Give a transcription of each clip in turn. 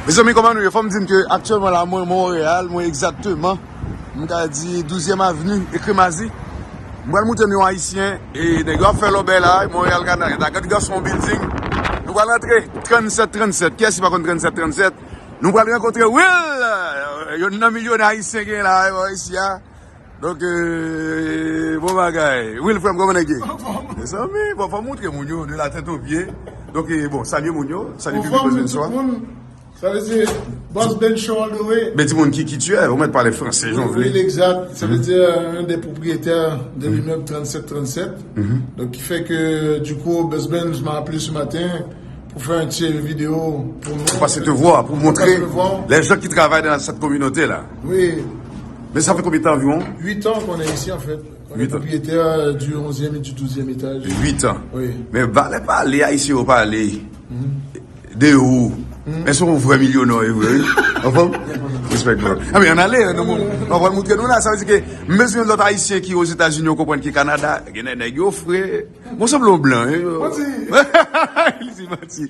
Mezanmi koman nou ye fòm dim ke aktyèlman la mwen Montréal mwen egzakteman m ka di douzyèm avni e kremazi m pral moutre nou yon ayisyen e nèg yo ap fè lòbèy la Montréal ka nan eta gad gason yon bilding nou pral antre 37 37 kiyès ki pa konn 37 37 nou pral rankontre Will yonn nan milyonè ayisyen gen la isi a. Donk bon bagay Wil frèm kòman nèg ye mezanmi bon fòm moutre moun yo de la tèt o pye donk bon salye moun yo salye piblik la bnswa Salye se Boss Ben Show all the way Men timoun ki kityè ou mèt pale franse jan ou vle Wil egzat sa vle di yon de pwopriyetè de limèb 37 37 donk ki fè ke di kou Boss Ben m a aple si maten pou fè yon ti video pou pase te vwa pou moutre lè jòt ki travay nan sèt kominote la Wi. Men sa fè konbyen tan anviwon? 8 ans qu'on est ici en fait. On est propriétaire du 11e et du 12e étage. 8 ans. Oui. Mais valè pale ayisyen yo pale de ou. Men son vrè milyonè ou ye vre wi. Ou fèm? Respect bro. Anben an ale nou moun. Mwen pral moutre nou la. Sa vle di ke m bezwen yon lòt ayisyen ki aux Etats Unis ou konprann ki Canada. Gen de nèg yo fre. Bon sanble yon blan. Manti. Li di manti.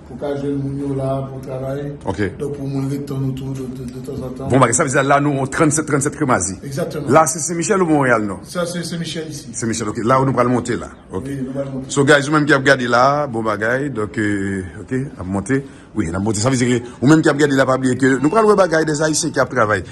Pou ka jwenn moun yo la pou travay. Ok. Donk pou moun ret tann ou tou de tanzantan. Bon bagay. Sa vle di la nou an 37, 37 kremazi. Exactement. La se Senmichèl ou Monreyal nou? Sa se Senmichèl isi. Senmichèl ok. La ou nou pral monte la. Ok. Wi nou pral monte. So guys ou menm ki ap gade la, bon bagay. Donk ok, nap monte. Wi nap monte. Sa vle di ke ou menm ki ap gade la pa bliye ke nou pral wè bagay des Ayisyen ki ap travay.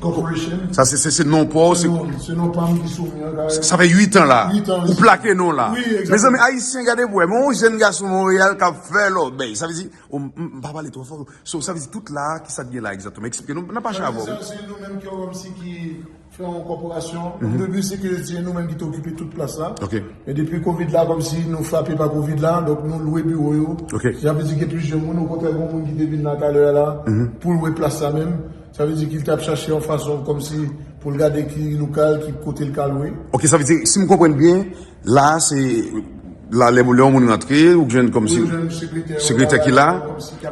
Corporation. Sa se se se non pa ou. Se non, se non pa m ki sou mwen la. Sa fè 8 an la. 8 an. Ou plake non la. Oui, exactement. Mezanmi, Ayisyen gade pou wè. Mwen yon jenn gason Monreyal kap fè lòbèy. Sa vle di, o m m pa pale twò fò. So, sa vle di tout la, ki sa k gen la egzakteman? Eksplike nou, nan pa chavon. Sa vle di, se nou menm ki yo wè m si ki fè yon kòporasyon. O debi se ke yo di, se nou menm ki te okipe tout plas la. Ok. Men depi Covid la, kòm si nou frape pa Covid la, donk nou lwe biwo yo. Ok. Sa vle di gen plizyè moun. Okontrè, gen yon moun ki te vin la talè a la, pou l wè plas la menm. Sa vle di ki l t ap chache yon fason kòm si pou l gade ki lokal, ki kote l ka lwe. Ok sa vle di si m konprann byen la a se la lè yon moun rantre ou k jwenn kòm si sekretè ki la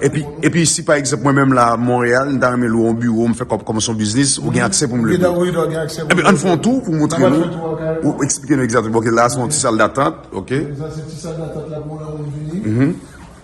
epi epi si pa egzanp mwen menm la a Monreyal m ta renmen lwe yon biwo m fè kòb kòmanse yon biznis ou gen aksè pou m lwe biwo. Ebyen an n fè yon tou pou w montre nou ou eksplike nou egzat ok la a se yon ti sal datant ok. Sa se ti sal datant la pou yon moun vini.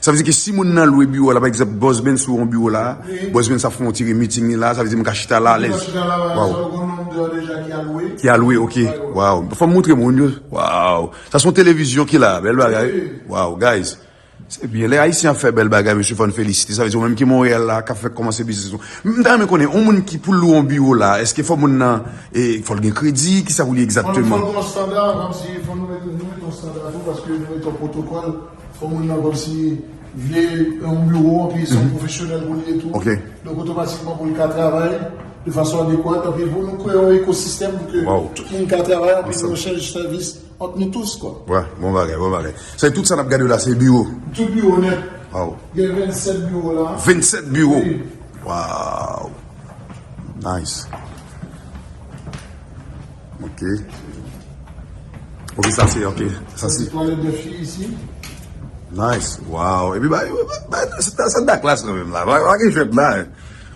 Sa vle di ke si moun nan lwe biwo la, pa egzanp, Boss Benz lwe yon biwo la, Boss Benz ap fè yon ti re-meeting li la, sa vle di m ka chita la alèz. Chita la alèz, ou gen yon nonm deja ki al lwe. Ki al lwe, ok. Waww. Fò m montre moun yo. Waww. Sa se yon televizyon ki la a. Bèl bagay wi. Waww, guys. Se byen. Lè Ayisyen ap fè bèl bagay, mesye, fò n felisite. Sa vle di ou menm ki Monreyal la, k ap fèk kòmanse biznis ou. M ta renmen konnen, yon moun ki pou l lwe yon biwo la, èske fò moun nan, e, fò l gen kredi? Kisa pou l ye egzakteman? Fò l gen yon estanda, m ap di, fò nou mete, nou mete yon estanda tou, paske nou mete yon pwotokòl. Fò moun nan kòmsi vle yon biwo anpi se yon pwofesyonèl pou l ye tou. Donk otomatikman pou l ka travay de fason adekwat anpi pou nou kreye yon ekosistèm pou ke tout moun ka travay anpi nou echanj sèvis ant nou tous kwa. Wa, bon bagay, bon bagay. Se tout sa n ap gade la se biwo? Tout biwo nèt. Waw. Gen 27 biwo la. 27 biwo? Wi. Waw. Nice. Ok. Ok, sa se, ok. Sa se toilet de fi isi. Nice. Wow. Epi ba, ba, sa da klas nan menm la. Ba, ba gen jwet la.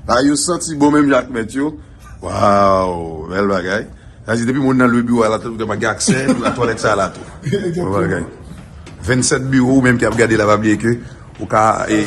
Ba, yo santi bon menm jak met yo. Wow. Bel bagay. Sa se depi moun nan lwe biwa la tou te pa gen akse la toilet sa la tou. Bon bagay. 27 biwo ou menm ki ap gade la pa bliye ke ou ka e.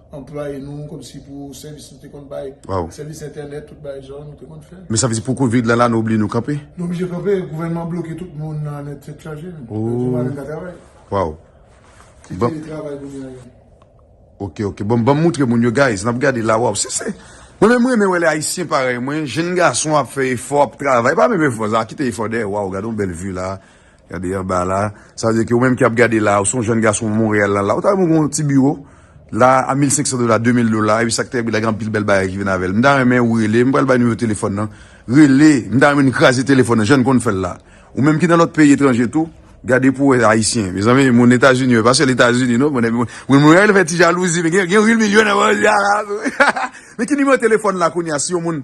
Anplwaye nou komsi pou sèvis nou te konn bay, sèvis entènèt, tout bagay sa yo nou te konn fè. Men sa vle di pou covid la la nou oblye nou kanpe? Nou oblije kanpe, gouvènman bloke tout moun nan nèt tèt chaje. Ooo. Nou pa menm ka travay. Waw. Se teletravay kounye a ye. Ok ok bon banm moutre moun yo guys nap gade la waw se se mwen menm renmen wè lè ayisyen parèy mwen jenn gason ap fè efò ap travay pa menm efò sa kite efò dèyè waw gadon bèl vue la Gade anba la. Sa vle di ke ou menm ki ap gade la, ou se yon jèn gason Monreyal lan la, ou ta renmen gen yon ti biwo la a 1500 dola, 2000 dola, epi sa ki te pi la gen anpil bèl bagay ki vin avè l. M ta renmen ou rele, m pral bay nimewo telefòn nan. Rele, m ta renmen nou kraze telefòn nan jan n konn fè l la. Ou menm ki nan lòt peyi etranje tou, gade pou w wè Ayisyen. Mezanmi, moun Etazini yo, e pa sèl Etazini non, mwen menm, moun Monreyal yo fè ti jalouzi, men gen yon vil milyon nan Monreyal la tou. Men ki nimewo telefòn la kounye a si yon moun.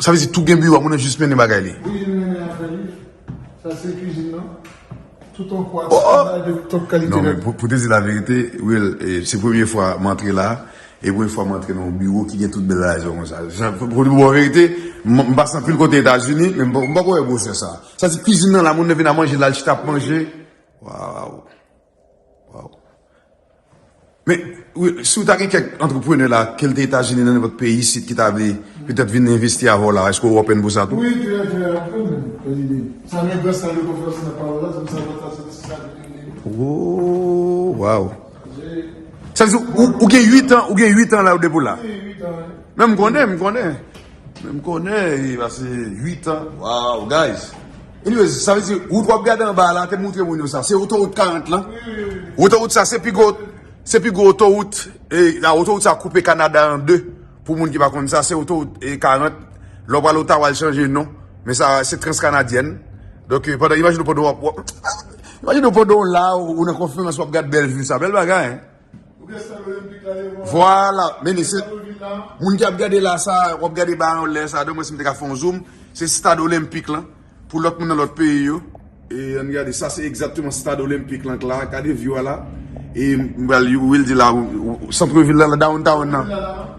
Sa vle di tout gen biwo a moun nan jis mennen bagay li. Wi li mennen afè li. Sa se kizin nan. Tout an kwa tout an bay de tout kalite bagay. Non men pou te di la verite Will se premye fwa m antre la e premye fwa m antre nan yon biwo ki gen tout bèl rason konsa. Pou di bon verite m pase anpil kote Etazini men m poko wè gwosè sa. Sa vle di kizin nan la moun nan vin a manje la l chita ap manje. Waww. Waw. Men, si w ta gen kèk antreprenè la, ke l te Etazini nan nenpòt peyi isit ki ta vle petèt vin envesti avè w la, èske w open pou sa tou? Wi, trè trè open menm, Fedime. Sa men gran sal yo konn fè osi nan pawòl la, se pou sa lòt la se ti sal yo gen menm. Woo, waw. Sa vle di ou, ou gen 8 an, ou gen 8 an la ou depi w la? Wi, 8 an. Men m konnen, m konnen. Men m konnen, e pase 8 an. Waw, guys. Anyways, sa vle di wout wap gade anba a la, te moutre moun yo sa, se otowout 40 lan. Otowout sa se pi gwo, se pi gwo otowout, e la otowout sa koupe Kanada an 2, pou moun ki pa konn sa, se otowout 40, lè w pral Ottawa l chanje non, men sa se Transkanadyen. Donk, pandan, imajine w pandan wap, imajine w pandan w la, ou nan konferans wap gad bèl view sa, bèl bagay hein. Vwala, meni se, moun ki ap gade la sa, wap gade ba yon lè sa, de mwen si m te ka fon zoom, se stad olenpik lan, pou lòt moun nan lòt peyi yo, e an gade, sa se egzatteman stad olenpik lan k la, gade view a la, e m bal, ou vil di la, centre vil la, la downtown nan.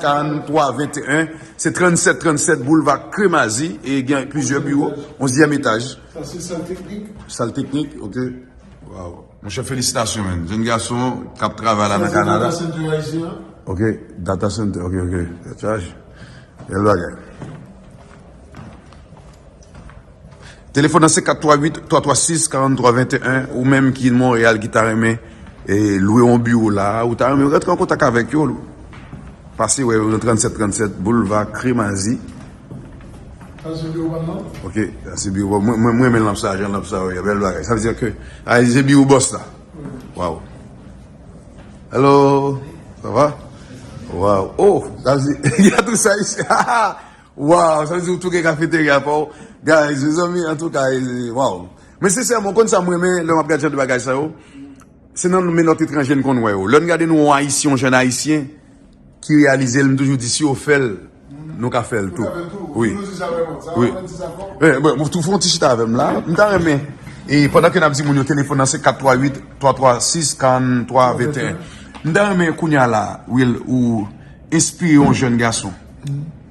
43 21 Se 37 37 boulva Kremazi e gen plizyè biwo onzyèm etaj Sa se sal teknik? Sal teknik ok Waw monchè felisitasyon men jenn gason kap travay la nan kanada Sa se data center ayisyen an? Ok data center ok ok Bèl bagay. Telefòn nan se 438 336 43 21 ou menm ki Montréal ki ta renmen lwe yon biwo la ou ta renmen rantre an kontak avèk yo pase wè yo nan 37 37 boulva kremazi Sa se biwo pam nan? Ok, sa se biwo pam. Mwen renmen lanp sa, jan lanp sa yo ye. Bèl bagay. Sa vle di ke a se biwo bòs la. Waw. Hello. Sa va? Waw. Oh, sa vle di, gade tout sa ici. Waww sa vle di ou tou gen kafeterya paw guys mezanmi antouka waww mwen sensèman ou konn sam renmen lè map gad jan de bagay sa yo se nan menòt etranje n konn wè yo lèn gade nou ayisyen yon jèn ayisyen ki reyalizel m toujou di si yo fèl nou ka fèl tou wi wi mwen tou fon ti chita avèm la m ta renmen e pandan ke nap di moun yo telefon nan se 438 336 43 21 m ta renmen kounya la wil ou espire yon jèn gason.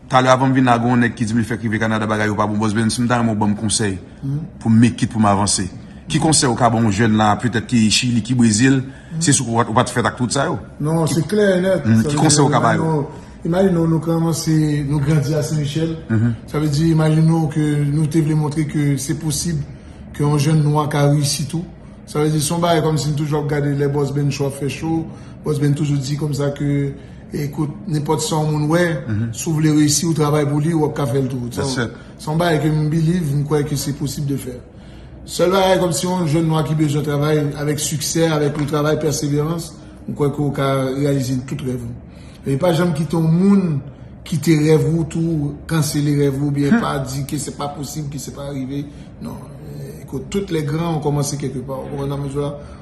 Talè avan m vin la gen yon nèg ki di m li fèk rive Kanada bagay yo pa bon. Bòs Benson m ta renmen w ban m konsèy pou m make it pou m avanse. Ki konsèy ou ka ban yon jèn la petèt ki Chili, ki Brezil, se sou ou pa t fèt ak tout sa yo? Non, se klè e nèt. Ki konsèy ou ka ba yo? Imajine w nou kòmanse, nou grandi a Sen Michèl, sa vle di imajine w ke nou te vle montre ke se posib ke yon jèn nwa ka reyisi tou. Sa vle di se yon bagay kòmsi m toujou ap gade lè Bòs Benchou ap fè show, Bòs Ben toujou di kòmsa ke Ekout, nenpòt sa yon moun wè, si w vle reyisi, ou travay pou li, w ap ka fè l tou. Se yon bagay ke m believe, m kwè ke se posib de fè. Sèl bagay kòm si yon jèn nwa ki bezwen travay avèk siksè, avèk yon travay pèseverans, m kwè ke w ka reyalize tout rèv ou. Men pa janm kite yon moun kite rèv ou tou, kansele rèv ou, oubyen pa di ke se pa posib, ke se pa rive. Non, ekout, tout lè gran, on kòmanse kèlke pa. Ou konprann sa m vle di w la?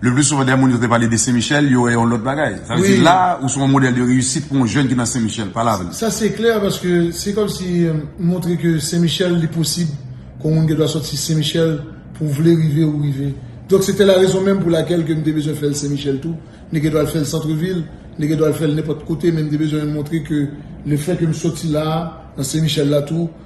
Le plus souvent dè moun yo te pale de Senmichèl, yo wè yon lòt bagay. Sa vle di la a, ou se yon modèl de reyisit pou yon jèn ki nan Senmichèl. Pale avè m. Sa se klè paske se kòm si m montre ke Senmichèl li posib, ke yon moun gen dwa sòti Senmichèl pou w vle rive ou rive. Donk se te la rezon menm pou lakèl ke m te bezwen fè l Senmichèl tou. M te gen dwa al fè l Santrevil, m te gen dwa al fè l nenpòt kote men m te bezwen montre ke le fè ke m sòti la a, nan Senmichèl la tou,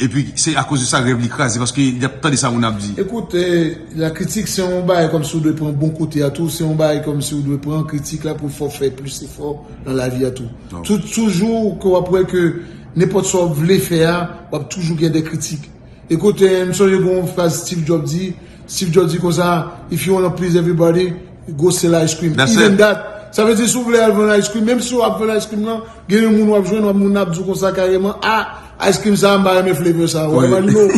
Epi se a koz de sa rèv li kraze paske li ap tande sa moun ap di. Ekout, la kritik se yon bagay kòmsi ou dwe pran bon kote a tou, se yon bagay kòmsi ou dwe pran kritik la pou fè w fè plis efò nan lavi a tou. Toujou ke w ap wè ke nenpòt sa w ap vle fè a, w ap toujou gen de kritik. Ekout, m sonje gen yon fraz Steve Jobs di, Steve Jobs di konsa, If you wanna please everybody, go sell ice cream. Even that. Sa vle di si w vle al vann ice cream, menm si w ap vann ice cream lan, gen yon moun w ap jwenn, moun nan ap di w konsa kareman, a! Ice cream sa mpa renmen flavor sa ou imagine ou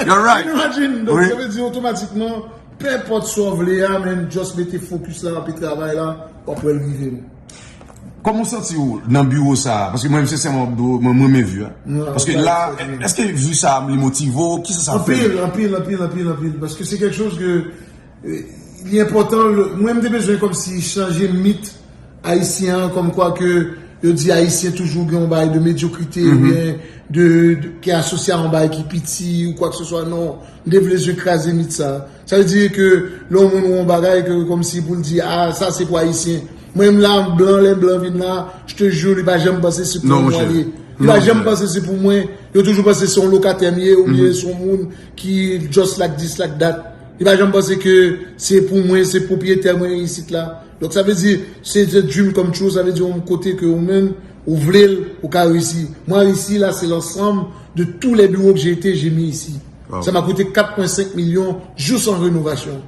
You're right Ou imagine donk sa vle di otomatikman Pe enpòt sa ou vle a men just mete focus la epi travay la wap wèl rive man. Kòman ou santi ou nan biwo sa a? Paske mwen menm sensèman wap do mwen renmen vue a Paske la eske vue sa a li motive ou kisa sa fè? Anpil anpil anpil anpil anpil paske se kèk choz ke Li enpòtan, mwen m te bezwen kòmsi chanje mit ayisyen an kòm kwa ke yo di ayisyen toujou gen yon bagay de medyokrite ou byen de, ki asosye a yon bagay ki piti ou kwa ke se swa, non, m te vle jis kraze mit sa. Sa vle di ke lè yon moun wè yon bagay ke kòmsi pou l di a sa se pou ayisyen. Mwen menm la blan lè blan vin la, je te jure li pa janm panse se pou mwen li ye. Li pa janm panse se pou mwen, yo toujou panse se yon lokatè m ye ou byen se yon moun ki just like this like that. Li pa janm panse ke se pou mwen, se pwopriyete mwen ye isit la. Donk sa vle di, se a dream come true, sa vle di yon kote ke ou menm ou vle l, ou ka reyisi. Mwen reyisi la, se lansanm de tou lè biwo ke jete, je mi isi. Sa ma koute 4 pwen 5 milyon jous an renovasyon.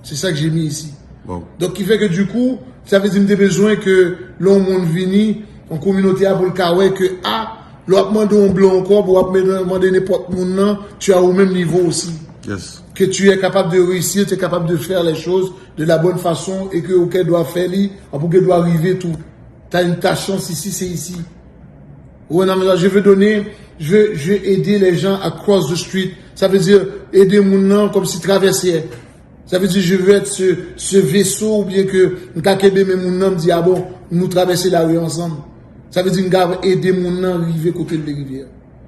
Se sa ke je mi isi. Donk ki fè ke di kou, sa vle di m te bezwen ke lè yon moun vini, yon kominote a pou l ka wè ke a, lè w ap mande yon blan yon kòb, ou ap mande nenpòt moun nan, tu as ou menm nivo osi. Que tu es capable de reussir, tu es capable de faire les choses de la bonne façon et que ou gen dwa fè li, anpi ou gen dwa rive tou. Ta une ta chans ici, c'est ici. Ou wè nan mè sa, je veux donner, je veux, je veux aider les gens à cross the street. Sa vle di, ede moun nan kòm si travèse. Sa vle di, je veux être ce, ce vaisseau ou byen ke m ka kenbe men moun nan, m di a bon, nou travèse lari ansanm. Sa vle di m ka ede moun nan rive kote l vle rive a.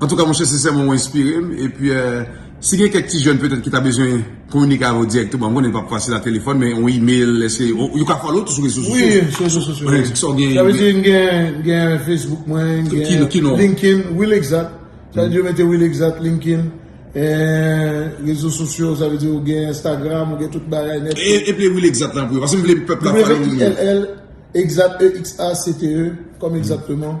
Antouka monchè sensèman ou enspire m e pi si gen kèk ti jèn petèt ki ta bezwen kominike avè w dirèkteman m konnen li pap fasil a telefòn men yon email eske yo ka follow w tou sou rezo sosyo? Wi sou rezo sosyo wi. Sa w gen? Sa vle di m gen Facebook mwen, m gen linkin, willexat sa vle di yo mete willexat, linkin rezo sosyo sa vle di ou gen Instagram ou gen tout bagay nèt. Eple willexat lan pou yo paske m vle pèp la follow w. Wlexate kòm egzakteman.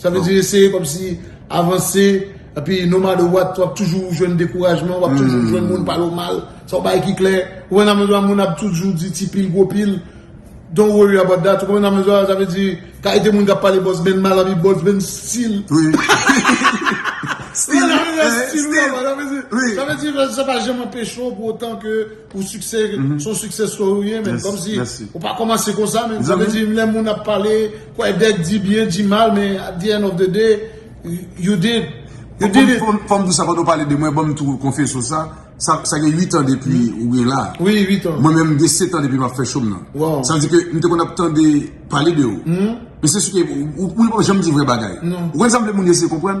Sa vle di eseye kom si avanse, epi no matter what wap toujou jwenn dekourajman, wap toujou jwenn moun pale w mal, se yon bagay ki klè. Ou konprann sa menm jan an moun ap toujou di ti pil gwo pil, don't worry about that, ou konprann sa menm jan an, sa vle di kalite moun kap pale bòs menn mal anvi bòs menn stil. Stil, stil, stil, sa vle di sa pa janm anpeche w pou otan ke. Ou siksè son siksè story ou ye men komsi ou pa komanse konsa men sa vle di lè moun ap pale kwè dèk di byen di mal men at di end of the day you did you did it. Fòm di sa pandan ou pale de mwen banm tou konfye sou sa sa gen 8 an depi ou gen la mwen menm gen 7 an depi map fè chom nan sa vle di ke m te konn ap tande pale de ou men se si ke ou li pa janm di vrè bagay ou konn sa m vle moun yo eseye konprann.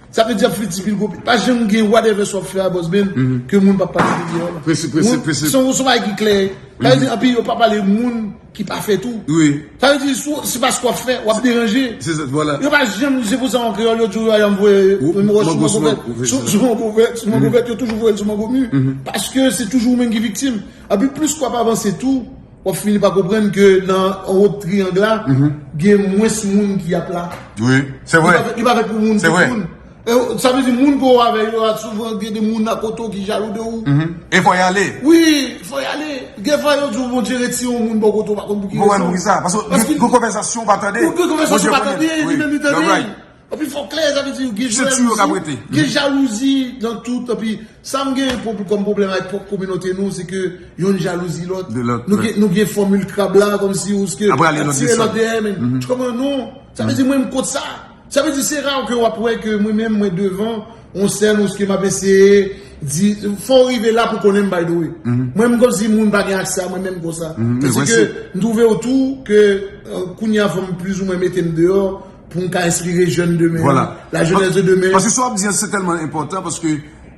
Sa vle di ap fè ti pil kopi. Pa janm gen whatever sa w ap fè a Boss Ben ke moun pa pale de yo. Prese, prese, prese. Son son bagay ki klè. Sa vle di anpi yo pa pale moun ki pa fè tou. Wi. Sa vle di si w, se paske w ap fè, w ap deranje. Se sa, vwala. Yo pa janm, se pou sa an kreyòl yo di w yo ayam voye yon wòch sou mango vèt. Mango sou mango. Sou mango vèt, sou mango vèt yo toujou voye l sou mango mi. Paske se toujou ou menm ki viktim. Anpi plis kou ap avanse tou. Wap fini pa konprann ke nan anwo triyang la, gen mwens moun ki ap la. Wi, se vre. Li pa fèt pou moun tout moun. Sa vle di moun ke ou avè yo a souvan gen de moun akote ou ki jalou de ou. E fò yale. Wi, fò yale. Gen fwa yo di ou Bondye retire yon moun bò kote ou pa konn pou ki rezon. Ou pa konn pou ki sa. Paske gen konvèzasyon ou pa tande. Gen konvèzasyon ou pa tande, li menm li tande. Epi fòk klè sa vle di gen jalouzi, gen jalouzi nan tout epi sa m gen kòm pwoblèm ak pwòp kominote nou se ke yonn jalouzi lòt, nou gen fòmil krab la kòmsi ou ske ap tire lòt dèyè men m kòman non, sa vle di mwen m kont sa, sa vle di se ra ke w ap wè ke mwen menm mwen devan yon sèn ou ske m ap eseye di, fò w rive la pou konnen m by the way, mwen m kòmsi moun pa gen aksè a mwen menm konsa, se ke m twouve w tou ke kounye a fò m plizoumwen mete m deyò. Pou m ka enspire jèn demen. Vwala. La jenès de demen. Paske sa w ap di an se tèlman enpòtan paske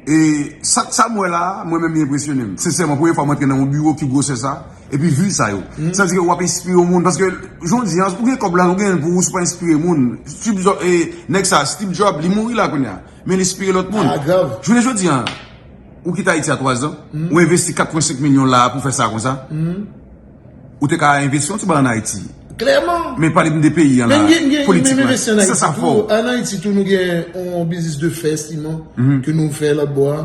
e sa m wè la a mwen menm li enpresyone m. Sensèman premye fwa m antre nan yon biwo ki gwosè sa epi vi sa yo. Sa di ke w ap enspire yon moun paske jodi an ou gen kòb la ou gen l pou ou si w pa enspire moun. Steve Jobs e nèg sa a Steve Jobs li mouri la kounye a men li enspire lòt moun. A grav. Jounen jodi an ou kite Ayiti a 3 zan ou envesti 4.5 milyon la a pou fè sa konsa. Ou te ka envesti yon ti ba an Ayiti. Klèman. Men pale m de peyi an la. Men gen gen men envesti an Ayiti tou. An Ayiti tou nou gen yon biznis de fè siman. Ke nou fè lòt bò a.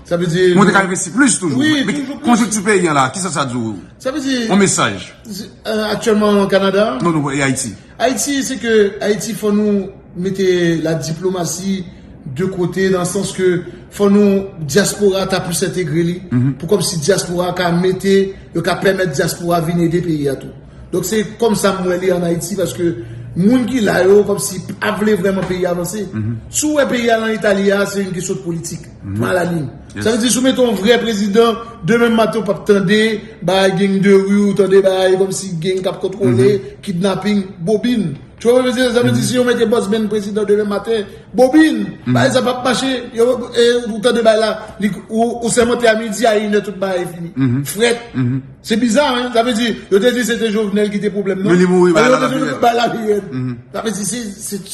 Sa vle di. Mwen te ka envesti plis toujou. Wi toujou plis. Konjou ti peyi an la. Kisa sa di ou? Sa vle di. Yon mesaj. Aktyèlman Kanada. Non non e Ayiti. Ayiti se ke ayiti fò nou mete la diplomasi de kote nan sans ke fò nou diaspora ta plis entegre li pou kòm si diaspora ka mete yo ka pèmèt diaspora vin ede peyi a tou donk se kòm sa m wè li an ayiti paske moun ki la yo kòm si pa vle vrèman peyi a vanse si w wè peyi a lan eta li a se yon kesyon de politik. Maladie. Sa vle di si w mete yon vrè prezidan, demen maten ou pap tande bagay gang de rue, ou tande bagay kòm si gang kap kontwole, kidnapping, bobin. Tu wè sa m vle di? Sa vle di si yo mete Boss Ben prezidan demen maten, bobin! Bagay sa pap mache. Ou tande bagay la, ou sèmante a midi, a inè tout bagay fini. Frèt. Se biza hein. Sa vle di, yo te di se te Jovenel ki te pwoblèm nan. Men li mouri, bagay la pi rèd. Bagay la pi rèd. Sa vle di,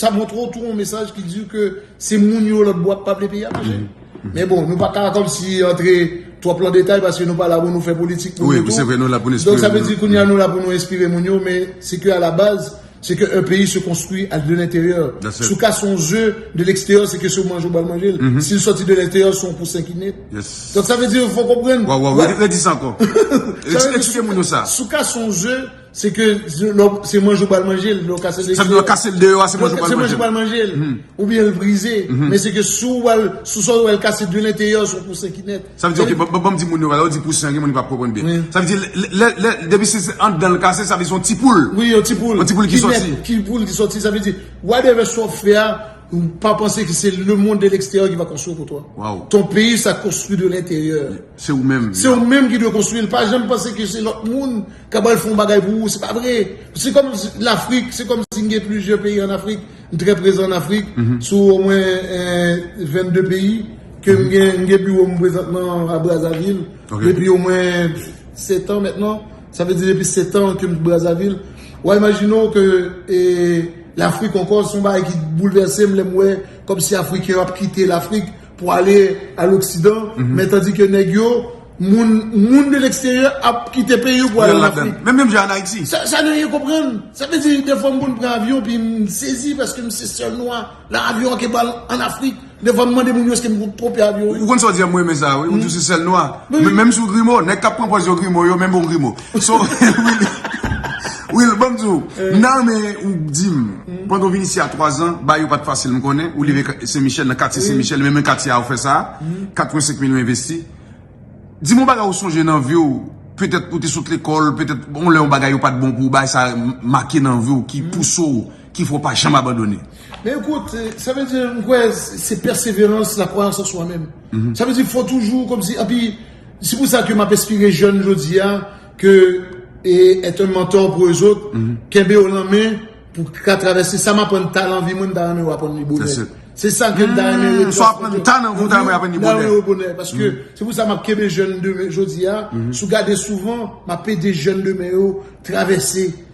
sa montre w tou yon mesaj ki di w ke. Se moun yo lòt bò ap pale peyi a mache. Men bon, nou pa ka kòmsi antre twòp lan detay paske nou pa la pou nou fè politik pou nou tou. Donk sa vle di kounye a nou la pou nou enspire moun yo men se ke a la baz, se ke un peyi se konstwi a de lenteryè. Si w ka se yon ze de leksteryè se ke se w manje ou bal manje l. Si l sòti de lenteryè se yon pousen ki ne. Donk sa vle di fò w konprann. Waw waw, redi sa ankò. Eksplike moun yo sa. Si w ka se yon ze. Se ke se manje ou pral manje l. Sa vle kase l deyo a se manje ou pral manje l. Ou byen l brize. Men se ke sou sa ou al kase de lenteyè ou son pou sen ki net. Sa vle di ok banm di moun yo valè ou di pou sen gen moun ki pap konprann byen. Sa vle di depi se andan l kase sa vle di son ti poul. Wi yon ti poul. Yon ti poul ki soti. Ki net poul ki soti. Sa vle di whatever sa wap fè a pa panse ke se le monde de l'exterieur ki va konstwi l pou toi. Waw. Ton peyi sa konstwi de lenteyè. Se ou menm. Se ou menm ki dwe konstwi l. Pa janm panse ke se lot moun Kabal fon bagay pou ou, se pa vre. Se kom lafrik, se kom si gen plizye peyi an afrik. M tre prezan an afrik, sou o mwen 22 peyi. Ke m gen biwo m prezantman a Brazavil. Depi o mwen 7 an mentnan. Sa vle di depi 7 an ke m Brazavil. Wa imajine ou ke lafrik anko son bagay ki boulvese m lem we kom si afriken yo ap kite lafrik. Pou ale a l'oksidan, men tandi ke nèg yo, moun, moun de l'eksteryè ap kite peyi yo pou ale l'Afrik. Menm menm jan an Ayiti. Sa nou ye konprann. Sa vle di, defwa m konn pran avyon pi m sezi paske m se sèl nwa lan avyon an ke pral an Afrik. Defwa m mande moun yo eske m konn twope avyon. Ou konn sa w di a m renmen sa wi, ou di w se sèl nwa. Menm si w grimo, nèg k ap pran pòz yo grimo yo menm ou grimo. So Will banm di w nan men ou di m pandan w vin isi a 3 zan bay yo pat fasil m konnen ou leve sen michèl nan katye sen michèl menm katye a ou fè sa 85 mil ou envesti di m yon bagay ou sonje nan vi w petèt ou te sot lekòl petèt yon lè yon bagay yo pat bon pou w bagay sa make nan vi w ki pouse w ki fè w pa janm abandone men ekout sa vle di m kwè se pèseverans la kwayans an swa menm sa vle di fò toujou kòmsi epi Se pou sa ke m ap espire jèn jodi a ke e et un mentor pou eux autres, kenbe yo lan men pou ka travèse sa m aprann ta lan vi mwen m ta renmen ou aprann li bonè. Se sa ke m ta renmen yo transmèt. Sa w aprann ta nan vi w ta renmen yo aprann li bonè. Nan yo bonè. Paske se pou sa m ap kenbe jèn demen jodi a, si w gade souvan m ap ede jèn demen yo travèse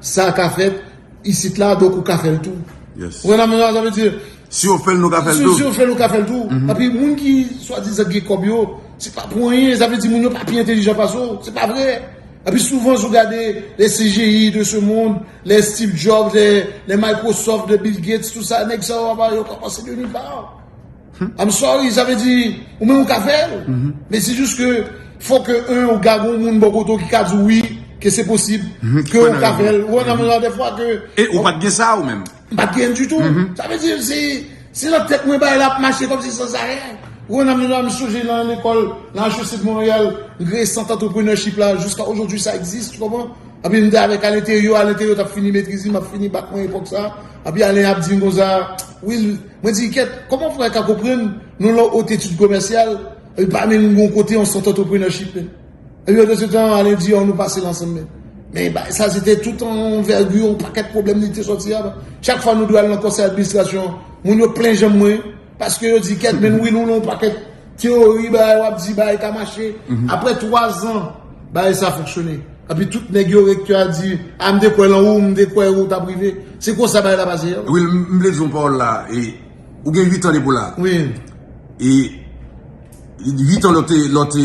Sa ka fèt isit la donk ou ka fèl tou. Yes. Ou konprann sa vle di? Si yo fèl nou ka fèl tou. Si yo fèl nou ka fèl tou. Epi moun ki swadizan gen kòb yo, se pa pou anyen, sa vle di moun yo pa pi entelijan pase w, se pa vre. Epi souvan si w gade le CGI de ce monde, le Steve Jobs, le Microsoft, le Bill Gates, tout sa, nèg sa yo aba yo pa pase de nulle part. I'm sorry sa vle di ou menm ou ka fèl men se jis ke fòk ke 1 ou ka gon moun bò kote ou ki ka di wi ke se posib ke ou ka fèl ou wè nan menm jan dèfwa ke e ou pat gen sa ou menm m pat gen di tou sa vle di se se nan tèt mwen bagay la ap mache kòm si san sa rè ou wè nan menm jan m sonje nan lekòl nan HEC de Montréal m kreye sant entrepreneurship la jiska ojodwi sa egzis tu konpran epi m te avèk alenteryo alenteryo t ap fini metriz li m ap fini bak mwen epòk sa epi alen ap di m konsa Will Mwen di kèt, kòman pou mwen ka konprann nou lan Haute Etude Commerciale epi pa menm gen yon kote yon sant entrepreneurship menm? Epi pandan se tan Alain di an nou pase l ansanm menm. Men bagay sa se te tout an anvègi yon pakèt pwoblèm li te sòti a. Chak fwa nou dwe al lan konsèy administrasyon an, moun yo plen janm mwen paske yo di kèt men nou wi nou lan yon pakèt Théorie bagay wap di bagay ka mache. Après 3 ans bagay sa fonksyone. Epi tout nèg yo recteur a di a m te kwè lan ou, m te kwè ou tap rive. Se konsa bagay la pase. Will m vle di w yon pawòl la e ou gen 8 ans depi w la e 8 ans lè w te lè w te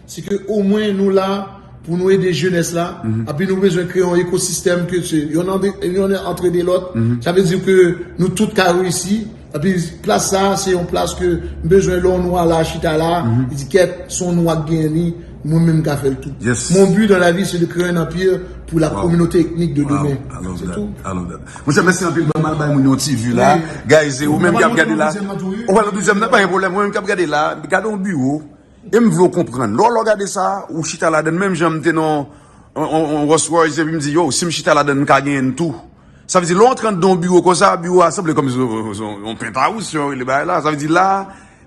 Se ke o mwen nou la pou nou ede jenès la, api nou bezwen kreye yon ekosistèm ke se yon antre de lòt, sa vle di ke nou tout ka reyisi, api plas sa a se yon plas ke m bezwen lè yon nwa la chita la, li di kèt se yon nwa ki genyen li, mwen menm m ka fè l tou. Mon but dans la vie c'est de créer un empire pour la communauté ethnique de demain. Se tou. Monchè mèsi anpil banm al bay moun yon ti vu la. Guys e ou menm ki ap gade la. Ou pral montre deuxième nan? Ou pral montre deuxième nan? Pa gen pwoblèm. Ou menm ki ap gade la, gade yon biwo. E m vle w konprann. Lè w lè w gade sa, ou chita ladan l menm jan m te nan yon Rolls Royce epi m di yow si m chita ladan l m ka genyen l tou. Sa vle di lè w antre anndan yon biwo konsa, biwo a sanble kòmsi se yon penthouse jan yo rele bagay la. Sa vle di la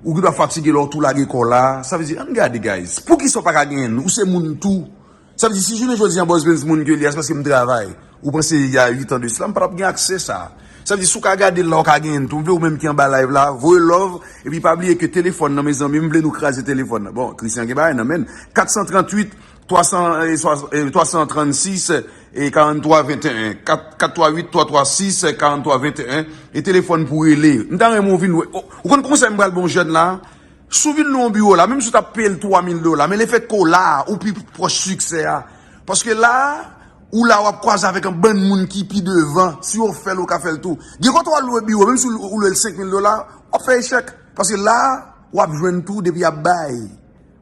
ou gendwa fatige lè w tou lage kò w la. Sa vle di ann gade guys. Poukisa w pa ka genyen l? Ou se moun tou. Sa vle di si jounen jodi an Boss Benz moun ke li a se paske m travay. Ou panse il y a 8 ans de cela m pa tap gen aksè sa. Sa vle di si w ka gade l la w ka genyen l tou. M vle ou menm ki anba live la voye love epi pa bliye ke telefòn nan mezanmi m vle nou kraze telefòn nan. Bon Christian gen bagay nan men l. 438 336 43 21 438 336 43 21 e telefòn pou rele. M ta renmen w vin wè. Ou konn konsèy m pral ba w jèn la? Si w vin lwe yon biwo la, menm si w t ap peye l 3 mil dola, men lefèt ke w la a, ou pi pwòch siksè a. Paske la a, ou la a, w ap kwaze avèk yon bann moun ki pi devan. Si yo fè l, ou ka fè l tou. Gen kote w al lwe biwo, menm si w lwe l 5 mil dola, w ap fè echèk. Paske la a, w ap jwenn tou depi y ap bay.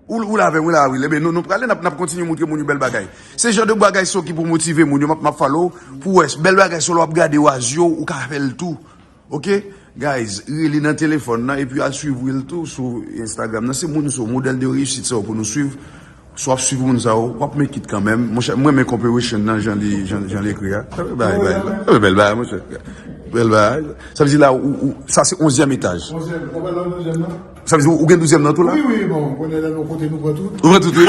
Ou la avè m wi la a wi. Enben, nou prale, n ap kontinye montre moun yo bèl bagay. Se jan de bagay sa yo ki pou motive moun yo. M ap fale w pou w wè. Bèl bagay sa yo, lè w ap gade yo a zye w, ou ka fè l tou. Ok guys rele nan telefòn nan epi al swiv Will tou sou Instagram nan se moun sa yo modèl de reyisit sa yo pou nou swiv si wap swiv moun sa yo wap make it kanmèm monchè m renmen comperation nan jan li jan li jan li ekri a bèl bagay bèl bagay bèl bagay monchè bèl bagay sa vle di la ou ou sa se onzyèm etaj onzyèm ou pa nan douzyèm nan sa vle di ou gen douzyèm nan tou la wi wi bon kounye a nou kote nou pran tout nou pran tout wi.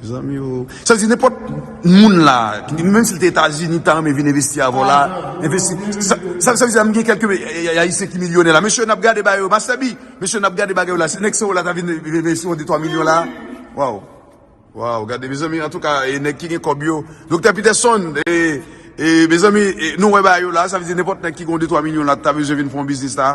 Mezanmi oo. Sa vle di nenpòt moun la, menm si l te Etazini, ta renmen vin envesti avè w la? Envesti. Sa vle di la m gen kèlke Ayisyen ki milyonè la. Mesye n ap gade bagay yo. Master B, mesye n ap gade bagay yo la. Si nèg sa yo la ta vin envesti yon detwa milyon la? Waww. Waww. Gade mezanmi. Antouka e nèg ki gen kòb yo. Doktè Peterson, e mezanmi nou wè bagay yo la. Sa vle di nenpòt nèg ki gen yon detwa milyon la ta bezwen vin fè yon biznis la.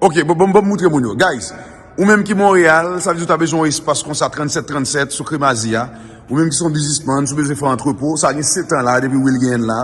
Ok bon banm moutre moun yo guys ou menm ki Montréal sa vle di ou ta bezwen yon espas konsa 37 37 sou kremazi a ou menm ki son bizisman sou bezwen fè yon antrepo sa gen 7 ans la depi Wil genyenl la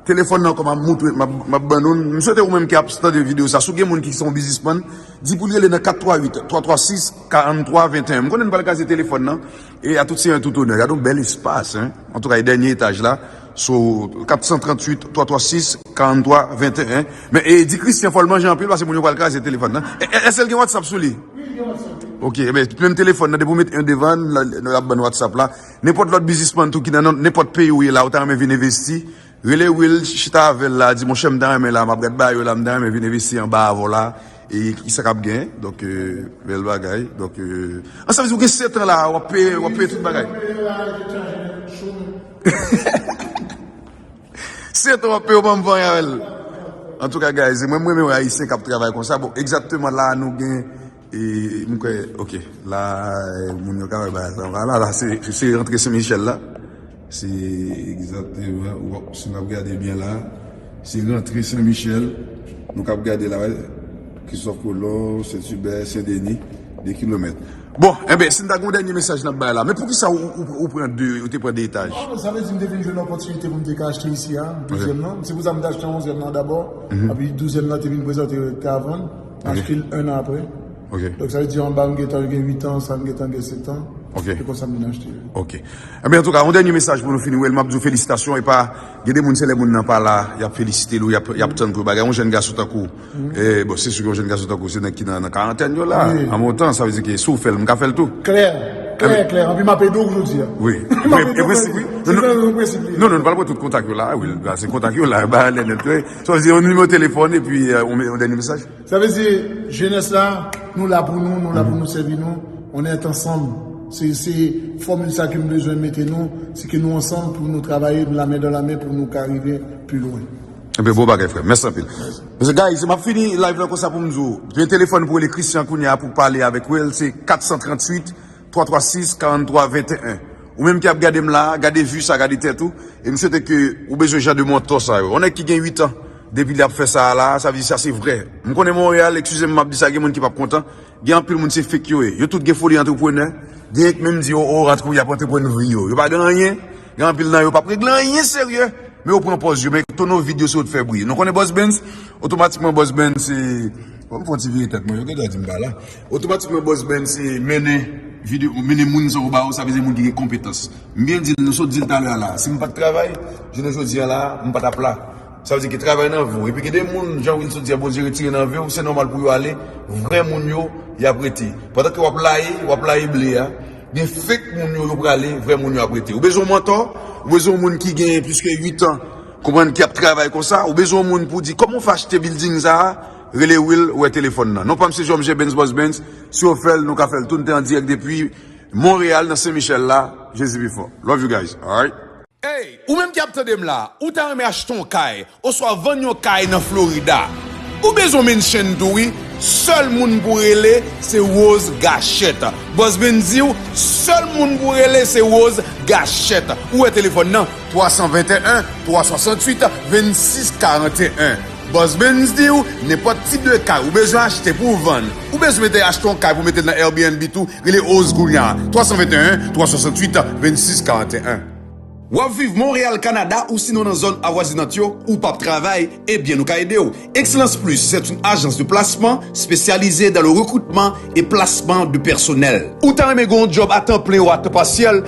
telefòn nan kòman moutre map ban nou m swete ou menm ki ap tande video sa si w gen moun ki son bizisman di pou l rele nan 438 336 43 21 m konnen m pral kaze telefòn nan. E a tout senyè tout onè. Gad yon bèl espas hein. Antouka e dènye etaj la sou 438 336 43 21 men e di Christian fòl manje anpil pase moun yo pral kraze telefòn nan èsel gen whatsapp sou li? Wi li gen whatsapp wi. Ok ebyen menm telefòn nan depi ou met 1 devann lap bann whatsapp la nenpòt lòt bizismann tou ki nan nenpòt peyi ou ye la ou ta renmen vin envesti Rele will chita avèl la di monchè m ta renmen la map gad bayo la m ta renmen vin envesti anba avèw la e kisa kap gen donk bèl bagay donk an sa vle di ou gen 7 ans la wap peye wap peye tout bagay setan wap peye ou banm vanyan avèl antouka guys mwen m renmen wè ayisyen kap travay konsa bon egzakteman la nou gen E m kwè ok la moun yo ka wè bagay sa va la la se rantre sen michèl la se egzakteman wòp si n ap gade byen la se rantre sen michèl nou kab gade la wè kristòf kolon sen tibè sen deni de kilomèt bon enben si n ta gen yon dènye mesaj n ap bay la men poukisa ou pran de ou te pran de etaj non sa vle di m te vin jwenn opòtinite pou m te ka achte isi a dezyèm nan se pou sa m te achte onzyèm nan dabò api douzyèm nan te vin prezante yo te ka vann. Achte l 1 an apre. Ok. Donk sa vle di anba m gentan yo gen 8 ans, sa m gentan gen 7 ans. Ok. Se konsa m vin achte yo. Ok. Enben antouka yon dènye mesaj pou nou fini wè l. M ap di w felisitasyon epa gen de moun se lè moun nan pa la y ap felisite l ou y ap y ap tann pou yo ba yon jèn gason tankou w. Bon se si yon jèn gason tankou w se nèg ki nan karantèn yo la. An bon tan sa vle di ke si w fè l m ka fè l tou. Klè. Klè klè. Anpi m ap ede w jodi a. Wi. Mwen ede w jodi a. Se nan yon prensip li ye. Non non nou pa l pran tout kontak yo la a wi. Pase kontak yo la a ba lè nèt. Sa vle di yon nimewo telefòn epi yon dènye mesaj? Sa vle di jenès la nou la pou nou, nou la pou nou sèvi nou, on est ansanm. Se se fòmil sa ke m bezwen mete nou, se ke nou ansanm pou nou travaye nou la men dan la men pou nou ka rive pi lwen. Ebyen bon bagay frèm. Mèsi anpil. Mèsi. Guys map fini live lan konsa poum di w, gen telefòn pou rele Christian kounya pou pale avèk Will se 438. 336 43 21 Ou menm ki ap gadem la a gade vue sa gade tèt ou e m swete ke ou bezwen jan de mantò sa yo yon nèg ki gen 8 ans depi li ap fè sa a la a sa vle di sa se vrè m konnen Montréal ekskizem map di sa gen moun ki pap kontan gen anpil moun se fake yo ye yo tout gen foli antreprenè genyen k menm di yo o rantre pou y ap antreprenn vri yo yo pa gen anyen Gen anpil nan yo pap regle anyen serye, men yo pran pòz yo, men tono vid yo se yo t fè bri. Nou konnen Boss Benz, otomatikman Boss Benz se, fòk m fon ti vire tèt mwen, yo gen dwa di m pa la. Otomatikman Boss Benz se mennen vide, mennen moun sa yo ba ou, sa vle di moun ki gen konpetans. M byen di l, nou sot di l talè a la, si m pat travay, jounen jodi a la, m pa tap la. Sa vle di ke travay nan vi w. Epi gen de moun, jan Will sot di a, Bondye retire nan vi w, se nòmal pou yo ale, vrè moun yo, yap rete. Pandan ke wap laye, wap laye ble a. Gen fake moun yo yo prale vrè moun yo ap rete ou bezwen yon mantò ou bezwen yon moun ki gen plis ke 8 ans konprann ki ap travay konsa ou bezwen yon moun pou di kòman ou fè achte bilding sa rele Will wè telefòn nan non pam se Jòm J Bens Bòs Bens si yo fèl nou ka fèl tou nou te an dirèk depi Montréal nan St Michel la Jezi pi fò love you guys alright. Hey, ou menm ki ap tande m la, ou ta renmen achte yon kay, oswa vann yon kay nan Florida? Ou bezwen yon mansion tou wi, sèl moun pou rele se Rose Gachette. Bòs Ben di w, sèl moun pou rele se Rose Gachette. Ou wè telefòn nan, 321 368 26 41. Bòs Ben di w, nenpòt tip de kay ou bezwen achte pou vann, ou bezwen mete achte yon kay pou mete l nan Airbnb tou, Rele Oz kounye a, 321 368 26 41. W ap viv Monreyal, Kanada ousinon nan zòn avwazinant yo, ou p ap travay, ebyen nou ka ede w. Excellence Plus c'est une agence de placement spécialisée dans le recrutement et placement de personnel. Ou ta renmen gen yon djòb a tan plen ou a tan pasyèl?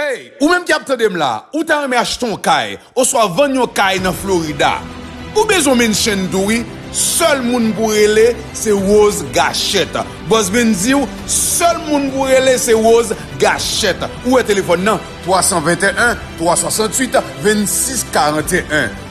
Hey, ou menm ki ap tande m la, ou ta renmen achte yon kay oswa vann yon kay nan Florida? Ou bezwen mention tou wi, sèl moun pou rele se Rose Gachette. Boss Ben di w sèl moun pou rele se Rose Gachette. Ou wè telefòn nan 321 368 26 41.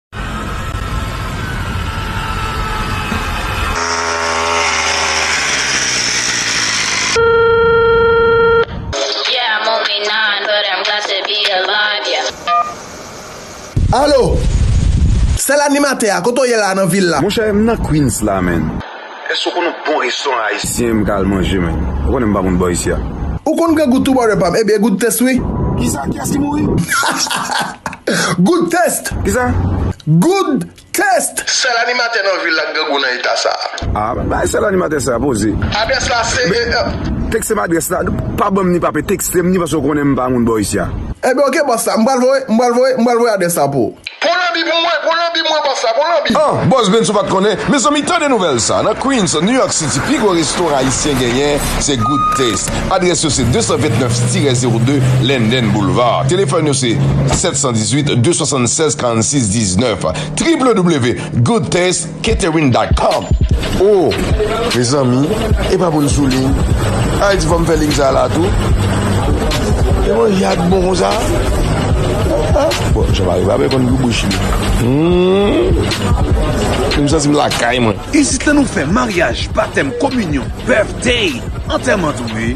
Alo! Sèl animatè a, kote w ye la nan vil la? Monchè, m nan Queens la, man. Eske w konn yon bon restoran ayisyen m ka al manje menn? Ou konnen m pa moun bò isi a. Ou konn pran gout tou brother pam? Ebyen gout test wi. Kisa? Kiyès ki mouri? Gout test! Kisa? Gout test! Sèl animatè nan vil la k grangou nan eta sa. Ah men bagay sèl animatè sa poze. Adrès la se e. Teksem adrès la, pa banm ni pape teksem ni paske ou konnen m pa moun bò isi a. Ebyen ok boss la, m pral voye, m pral voye, m pral voye adrès la pou ou. Pran lanbi pou mwen, pran lanbi mwen bòs la, pran lanbi. An, bòs Ben's ou pat konnen? Mezanmi tande nouvèl sa, nan Queens, New York City pi gwo restoran ayisyen genyen se Good Taste. Adrès yo se 229 tirè zewo 2 Linden Boulevard. Telefòn yo se 718 276 46 19 www Good Taste. Catherine dot com Oh mezanmi e pa poun sou ligne Ay di fòm fè ligne sa la tou E bon ya k bon konsa Ha bon Jean Marie pa bè konn gou bouch li Humm M santi m lakay mwen. Isit la nou fè maryaj, batèm, kominyon, birthday, antèman tou wi.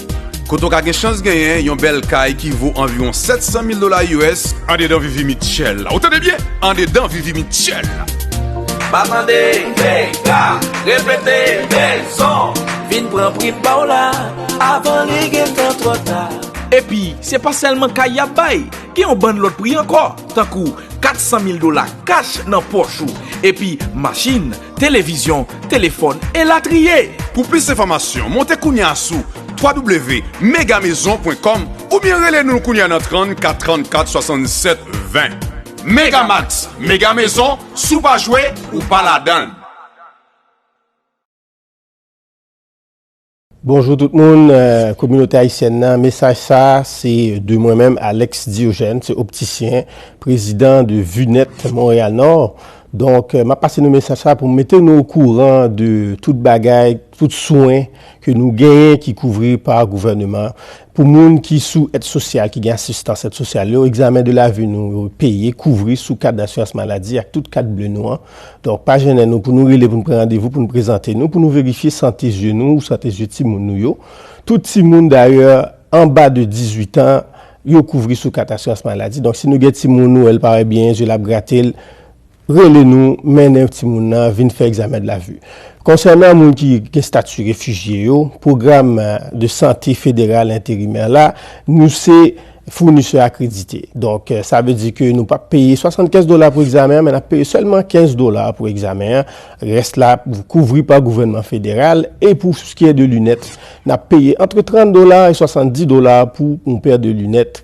Kote w ka gen chans genyen yon bèl kay ki vo anviwon 700 mil dola us andedan Vivi Mitchell la. Ou tande byen? Andedan Vivi Mitchell la. Pa tande, Vega, repete, Belzon. Vin pran prim pa w la, avan li gen tan twò ta. Epi, se pa sèlman kay y ap bay, gen yon bann lòt pri ankò, tankou 400 mil dola kach nan pòch ou, epi machin, televizyon, telefòn, elatriye. Pou plis enfòmasyon, monte kounya sou www.megamaison.com oubyen rele nou kounya nan 34 34 67 20. Megamax, Mega Maison, si w pa jwe, ou pa ladan l! Bonjou tout moun, kominote ayisyèn nan, mesaj sa se de mwen menm Alex Diogène, se optisyen, prezidan de Vue Net Montréal Nord. Donk, map pase nou mesaj sa pou mete nou okouran de tout bagay, tout swen ke nou genyen ki kouvri pa gouvèneman. Pou moun ki sou èd sosyal ki gen asistans èd sosyal yo, egzamen de lavi nou yo peye, kouvri sou kat dasirans maladi ak tout kat ble nou an. Donk, pa jennen nou pou nou rele pou nou pran randevou pou nou prezante nou pou nou verifye sante zye nou ou sante zye timoun nou yo. Tout timoun, dayè, anba de 18 an, yo kouvri sou kat asirans maladi. Donk, si nou gen timoun nou wè l pa wè byen, zye l ap grate l, Rele nou mennen timoun nan vin fè egzamen de la vue. Konsènan moun ki gen stati refijye yo, pwogram de sante federal enterimè la, nou se founisè akredite. Donk, sa vle di ke nou pap peye 75 dola pou egzamen an, men nap peye sèlman 15 dola pou egzamen an. Rès la kouvri pa gouvènman federal. E pou skiè de linèt, nap peye antre 30 dola e 70 dola pou yon pè de linèt.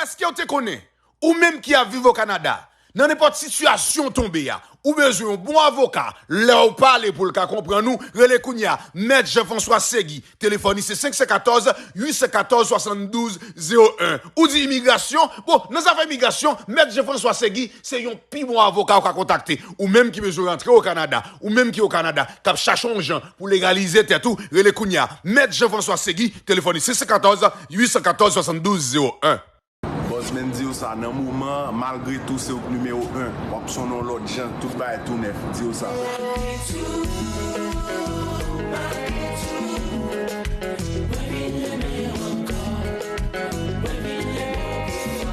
Èskew te konnen, ou menm ki ap viv o Kanada, nan nenpòt sitiyasyon w tonbe a, ou bezwen yon bon avoka, lèw pale poul ka konprann ou, rele kounya Mèt Jean François Segui, telefòn li se 514 814 72 01. Ou di imigrasyon, bon nan zafè imigrasyon, Mèt Jean François Segui se yon pi bon avoka ou ka kontakte. Ou menm ki bezwen rantre o Kanada, ou menm ki o Kanada, kap chache yon jan, Pou legalize tèt ou, rele kounye a, Mèt Jean François Segui, telefòn li 614 814 72 01. Bòs menm diw sa nan moman an malgre tou se ou k nimewo 1 wap sonnen yon lòt jan tout bagay tou nèf diw sa. Malgre tou malgre tou mwen vin renmen w ankò mwen vin renmen w pi fò.